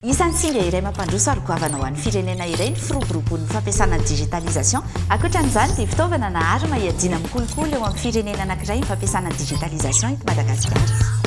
Isan'ny singa iray mampandroso ary goavana ho an'ny firenena iray ny firoboroboan'ny fampiasana ny digitalisation. Ankoatra an'izany dia fitaovana na arma hiadiana amin'ny kolikoly eo amin'ny firenena anankiray ny fampiasana ny digitalisation eto Madagasikara.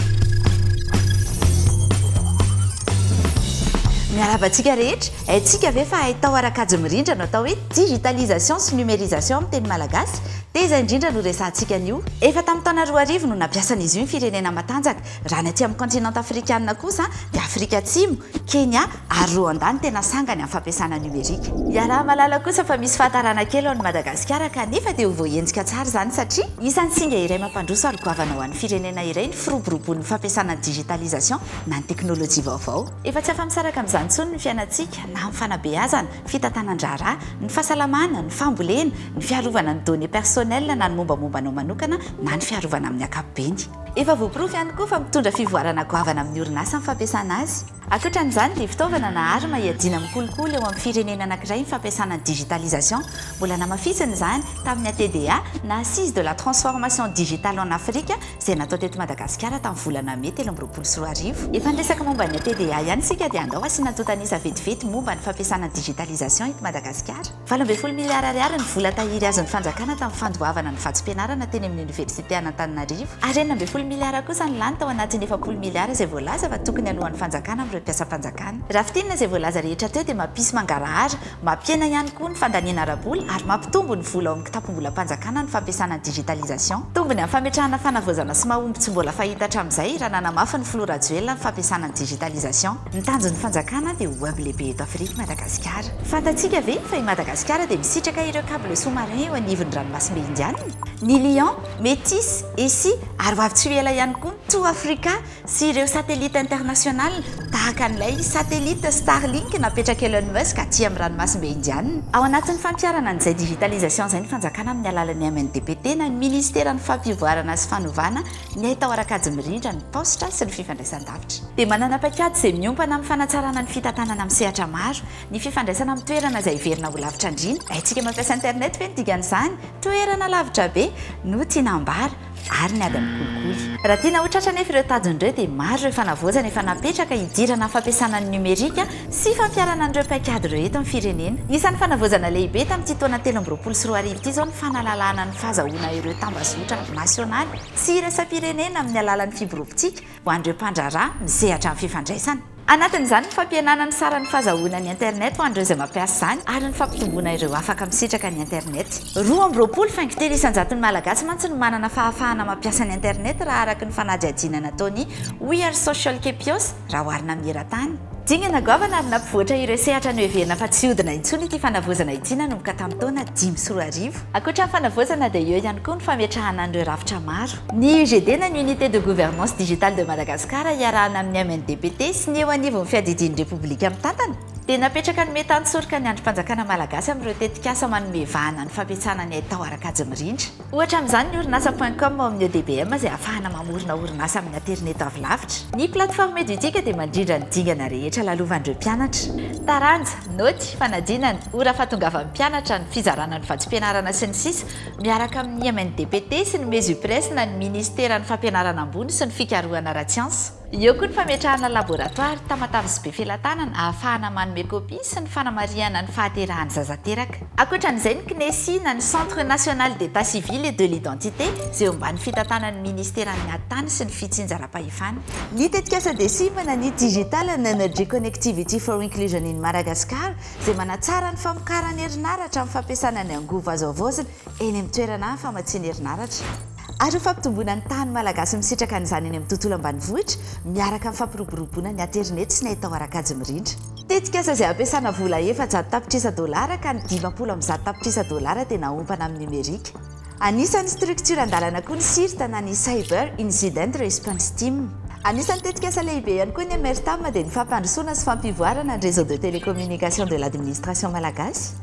Miarahaba antsika rehetra! Haintsika ve fa haitao ara kajy mirindra no atao hoe digitalisation sy numérisation amin'ny teny malagasy? Teza indrindra no resahantsika an'io. Efa tamin'ny taona roa arivo no nampiasan'izy io ny firenena matanjaka. Raha ny aty amin'ny kaontinanta afrikana kosa dia Afrika Atsimo, Kenya ary Rwanda no tena sangany amin'ny fampiasana numerika. Iaraha-mahalala kosa fa misy fahatarana kely ao an'i Madagasikara kanefa dia ho voaenjika tsara izany satria isan'ny singa iray mampandroso ary goavana ho an'ny firenena iray ny firoborobon'ny fampiasana ny digitalisation na ny teknolojia vaovao. Efa tsy afa-misaraka amin'izany intsony ny fiainantsika na amin'ny fanabeazana, fitantanan-draharaha, ny fahasalamana, ny fambolena, ny fiarovana ny données personnelles na ny mombamomba anao manokana na ny fiarovana amin'ny ankapobeny. Efa voaporofo ihany koa fa mitondra fivoarana goavana amin'ny orinasa ny fampiasana azy. Ankoatra an'izany dia fitaovana na arme iadiana amin'ny kolikoly eo amin'ny firenena anankiray ny fampiasana ny digitalisation. Mbola namafisina izany tamin'ny ATDA na Assise de la transformation digitale en Afrique izay natao teto Madagasikara tamin'ny volana Mey telo amby roapolo sy roa arivo. Efa niresaka momba ny ATDA ihany isika dia andao asiana antontanisa vetivety momba ny fampiasana ny digitalisation eto Madagasikara. Valo ambin'ny folo miliara ariary ny vola tahiry azon'ny fanjakana tamin'ny fandoavana ny vatsim-pianarana teny amin'ny oniversite an'Antananarivo ary enina ambin'ny folo miliara kosa ny lany tao anatin'ny efapolo miliara izay voalaza fa tokony haloan'ny fanjakana amin'ireo mpiasam-panjakana. Raha fintinina izay voalaza rehetra teo dia mampisy mangarahara, mampihena ihany koa ny fandaniana ara-bola ary mampitombo ny vola ao amin'ny kitapom-bolam-panjakana ny fampiasana ny digitalisation. Tombony amin'ny fametrahana fanavaozana sy mahomby tsy mbola fahita hatramin'izay raha nanamafy ny filoha Rajoelina ny fampiasana ny digitalisation. Ny tanjon'ny fanjakana dia ho hub lehibe eto Afrika i Madagasikara. Fantatsika ve fa i Madagasikara dia misitraka ireo cables sous-marins eo anivon'ny ranomasimbe Indiana? Ny Lion, Metis, Essie ary ho avy tsy ho ela ihany koa ny Two Africa sy ireo satelita internationales tahaka an'ilay satelita Starlink napetrak'i Elon Musk aty amin'ny ranomasimbe Indiana. Ao anatin'ny fampiharana an'izay digitalisation izay ny fanjakana amin'ny alalan'ny MNDPT na ny Ministeran'ny Fampivoarana sy Fanovana Ny haitao ara-kajy mirindra ny taositra sy ny fifandraisan-davitra. Dia manana paikady izay miompana amin'ny fanatsarana ny fitantanana amin'ny sehatra maro. Ny fifandraisana amin'ny toerana izay heverina ho lavitra andriana. Haintsika mampiasa internet ve ny dikan'izany? Toerana lavitra be no tiana ambara ary ny ady amin'ny kolikoly. Raha tiana ho tratra anefa ireo tanjona ireo dia maro ireo fanavaozana efa napetraka hidirana amin'ny fampiasana ny nomerika sy fampiharana an'ireo paikady ireo eto amin'ny firenena. Isan'ny fanavaozana lehibe tamin'ity taona telo amby roapolo sy roa arivo ity izao ny fanalalahana ny fahazahoana ireo tambazotra nasionaly sy iraisam-pirenena amin'ny alalan'ny fiborobontsika ho an'ireo mpandraharaha misehatra amin'ny fifandraisana. Anatin'izany ny fampihenana ny saran'ny fahazahoana ny Internet ho an'ireo izay mampiasa izany ary ny fampitomboana ireo afaka misitraka ny Internet. Roa amby roapolo faingo telo isan-jaton'ny Malagasy mantsy no manana fahafahana mampiasa ny Internet raha araka ny fanadihadiana nataon'ny We Are Social Kepios, raha oharina amin'ny eran-tany. Dingana goavana ary nampivoatra ireo sehatra noheverina fa tsy hihodina intsony ity fanavaozana ity nanomboka tamin'ny taona dimy sy roa arivo. Ankoatra ny fanavaozana dia eo ihany koa ny fametrahana an'ireo rafitra maro. Ny UGD na ny Unité de Gouvernance Digitale de Madagascar iarahana amin'ny MNDPT sy ny eo anivon'ny Fiadidian'ny Repoblika Mitantana dia napetraka ny mety hanosoroka ny andrim-panjakana malagasy amin'ireo tetikasa manome vahana ny fampiasana ny haitao ara-kajy mirindra. Ohatra amin'izany ny orinasa point com ao amin'ny EDBM izay ahafahana mamorona orinasa amin'ny aterineto avy lavitra. Ny plateforme Edutika dia mandrindra ny dingana rehetra lalovan'ireo mpianatra. Taranja, naoty, fanadinana, ora fahatongavan'ny mpianatra, ny fizarana ny vatsim-pianarana sy ny sisa Miaraka amin'ny IMNDPT sy ny Mesupres na ny Minisiteran'ny Fampianarana Ambony sy ny Fikarohana ara-tsiansa. Eo koa ny fametrahana laboratoara, tamatave sy befelatanana ahafahana manome kopia sy ny fanamarihana ny fahaterahan'ny zaza teraka. Ankoatra an'izay ny CNESI na ny Centre National d'Etat Civil et de l'Identité izay eo ambany fitantanan'ny Ministeran'ny Ady Tany sy ny Fitsinjaram-pahefana. Ny tetikasa DCIM na ny Digital and Energy Connectivity for Inclusion in Madagascar izay manatsara ny famokaran'ny herinaratra amin'ny fampiasana ny angovo azo havaozina eny amin'ny toerana famatsiana herinaratra. ary ho fampitomboana ny tahan'ny Malagasy misitraka an'izany eny amin'ny tontolo ambanivohitra miaraka amin'ny fampiroboroboana ny aterineto sy ny haitao ara-kajy mirindra. Tetikasa izay ampiasana vola efajato tapitrisa dolara ka ny dimampolo amby zato tapitrisa dolara dia naompana amin'ny nomerika. Anisan'ny structure an-dalana koa ny CIRT na ny Cyber Incident Response Team. Anisan'ny tetikasa lehibe ihany koa ny MRTAM dia ny fampandrosoana sy fampivoarana ny réseau de télécommunication de l'administration malagasy.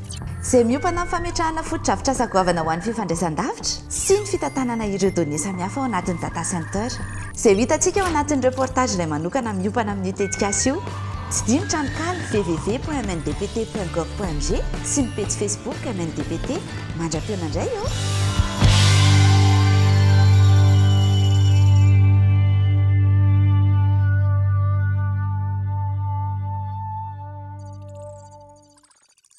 izay miompana amin'ny fametrahana fotodrafitrasa goavana ho an'ny fifandraisan-davitra sy ny fitantanana ireo données samihafa ao anatin'ny data center. Izay ho hitantsika ao anatin'ny reportage iray manokana miompana amin'io tetikasa io. Tsy dino tranonkala www.mndpt.gov.mg sy ny pejy Facebook mndpt. Mandra-pihaona indray ô!